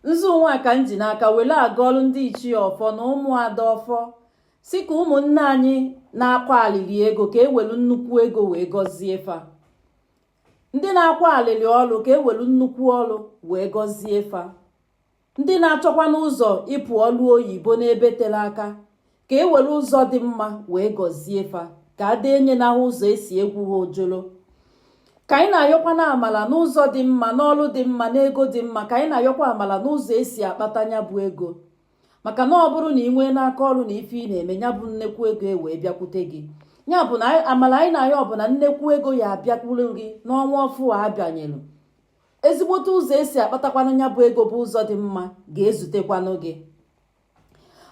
nzu nwa ka m ji n'aka were agọọlụ ndị ichie ọfọ na ụmụada ọfọ sị ka ụmụnne anyị na-akwa alịlị ego ka e welu nnukwu ego wee gọzie fa ndị na-akwa alịlị ọlụ ka e welu nnukwu ọlụ wee gọzie fa ndị na-achọkwanụ ụzọ ịpụ ọlụ oyibo n'ebe tere aka ka e were ụzọ dị mma wee gọzie fa ka ada enye ha ụzọ e si egwu ha ojolo ka anyị na-ayọkwa na amala n'ụzọ dị mma n'ọlụ dị mma n'ego dị mma ka anyị na-ayọkwa amala n'ụzọ e si akpata nya bụ ego maka na ọ bụrụ na ị nwee n'aka ọrụ na ife ị na-eme ya bụ nnekwu ego wee bịakwute gị ya bụ na amala anyị na-ayọ ọ bụ na nnekwu ego ya abịakwuru gị n'ọnwa ọfụ a a banyelu ezigbote ụzọ e si akpatakwanụ ya bụ ego bụ ụzọ dị mma ga-ezutekwanụ gị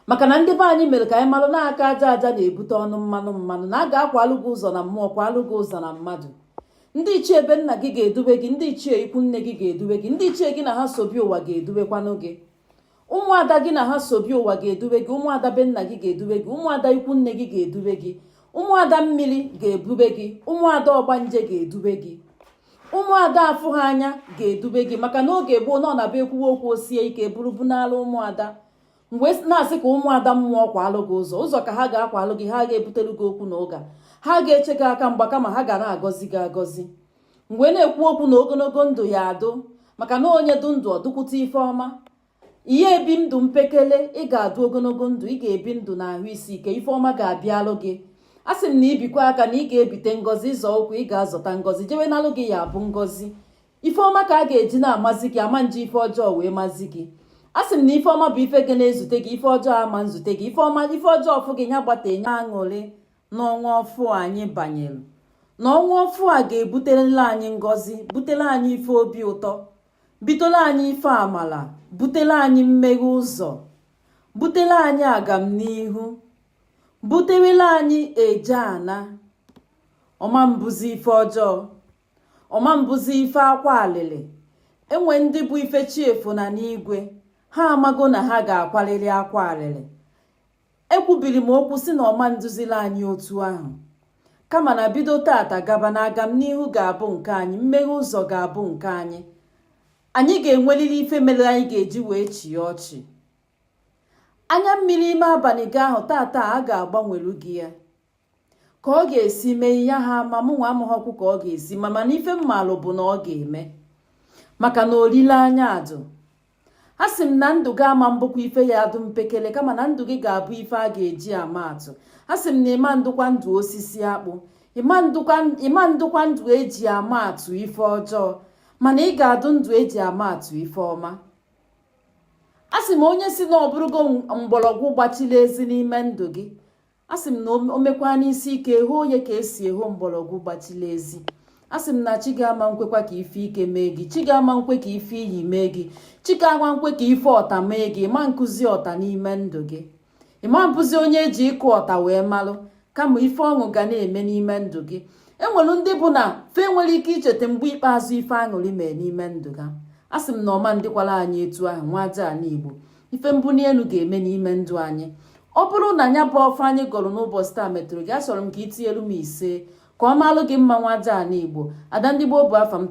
maka na ndị be anyị mere ka anyị malụ na aka aja aja na-ebute ọnụ mmanụ mmanụ na a ga-akwalụ gị ụzọ na mmụọ kwalụ gị ụzọ na mmadụ ndị ichie be nna gị ga-edube gị ndị ichie ikwu nne gị ga-edube gị ndị ichie gị na ha so bịa ụwa ga-edubekwanụ gị ụmụada gị na ha so bịa ụwa ga-edube gị ụmụada be nna gị ga-edube gị ụmụada ikwu nne gị ga-edube gị ụmụada mmiri ga-ebube gị ụmụada ọgbanje ga-edube gị ụmụada afụ ha anya ga-edube gị maka na oge gboo na ọ na-abụ e kwuwe okwu o sie ike buru bunaala ụmụada m wee na-asị ka ụmụada mmụọ kwalụ gị ụzọ ụzọ ka ha ga-akwalụ gị ha ga-ebutere gị okwu na ụka ha ga-eche gị aka mgba kama ha ga na-agọzi gị agọzi m wee na-ekwu okwu na ogologo ndụ ya adụ maka na onye dụ ndụ ọ dụkwute ife ọma ị ga-ebi ndụ mpekele ị ga-adụ ogologo ndụ ị ga-ebi ndụ na ahụ isi ike ife ọma ga-abịalụ gị a sị m na ị bikwa aka na ị ga-ebite ngọzi ị zọọ ụkwụ ị ga-azọta ngọzi jewe nalụ gị ya bụ ngọzi ife ọma ka a ga-eji na-amazi gị a ma nji ife ọjọọ wee mazi gị a sị m na ife ọma bụ ife ga na-ezute gị ife ọjọọ ama nzute gị ife ọma ife ọjọọ fụ gị ya gbata enye aṅụrị n'ọnwa ọfụ anyị banyere na ọnwa ọfụ a ga-ebuterela anyị ngọzi butere anyị ife obi ụtọ butela anyị ife amala butela anyị mmeghe ụzọ butela anyị agamnihu buterela anyị eje ana ọ ma mbụzi ife ọjọọ ọ ma mbụzi ife akwa alịlị e nwe ndị bụ ife chi efo na n'igwe ha amago na ha ga-akwalili akwa alịlị ekwubiri m okwu sị na ọ ma ndụzila anyị otu ahụ kama na bido tata gaba na agamnihu ga-abụ nke anyị mmeghe ụzọ ga-abụ nke anyị anyị ga-enwelili ife mere anyị ga-eji wee chịa ọchị anya mmiri ime abalị gị ahụ tata a ga-agbanwelu gị ya ka ọ ga-esi mee ihe ha ma mụ nwa amaghọkwu ka ọ ga-esi mee mana ife m malụ bụ na ọ ga-eme maka na olileanya adụ a sị m na ndụ gị ama mbụkwa ife ya adụ mpekele kama na ndụ gị ga-abụ ife a ga-eji ama atụ a sị m na ị ma ndụkwa ndụ osisi akpụ ị ma ndụkwa ndụ eji ama atụ ife ọjọọ mana ị ga-adụ ndụ eji ama atụ ife ọma a sị m onye sị na ọ bụrụgo mgbọlọgwụ gbachila ezi n'ime ndụ gị a sị m na o mekwa n'isi ike hoo onye ka esi eho mgbọlọgwụ gbachila ezi a sị m na chi gị ama nkwekwa ka ife ike mee gị chi gị ama nkwe ka ife iyi mee gị chi gị ama nkwe ka ife ọta mee gị ị ma nkụzi ọta n'ime ndụ gị ị ma mbụzi onye eji ịkụ ọta wee malụ kama ife ọṅụ ga na-eme n'ime ndụ gị enwere ndị bụ na fa enwerọ ike icheta mgbe ikpeazụ ife aṅụrị mee n'ime ndụ ha a sị m na ọ ma ndịkwara anyị etu ahụ nwa aja ala igbo ife mbuni enu ga-eme n'ime ndụ anyị ọ bụrụ na nya bụ ọfọ anyị gọrọ n'ụbọsị taa metụrụ gị asọrọ m ka i tinyelu m ise ka ọ maalụ gị mma nwa aja ala igbo ada ndị gboo bụ afa m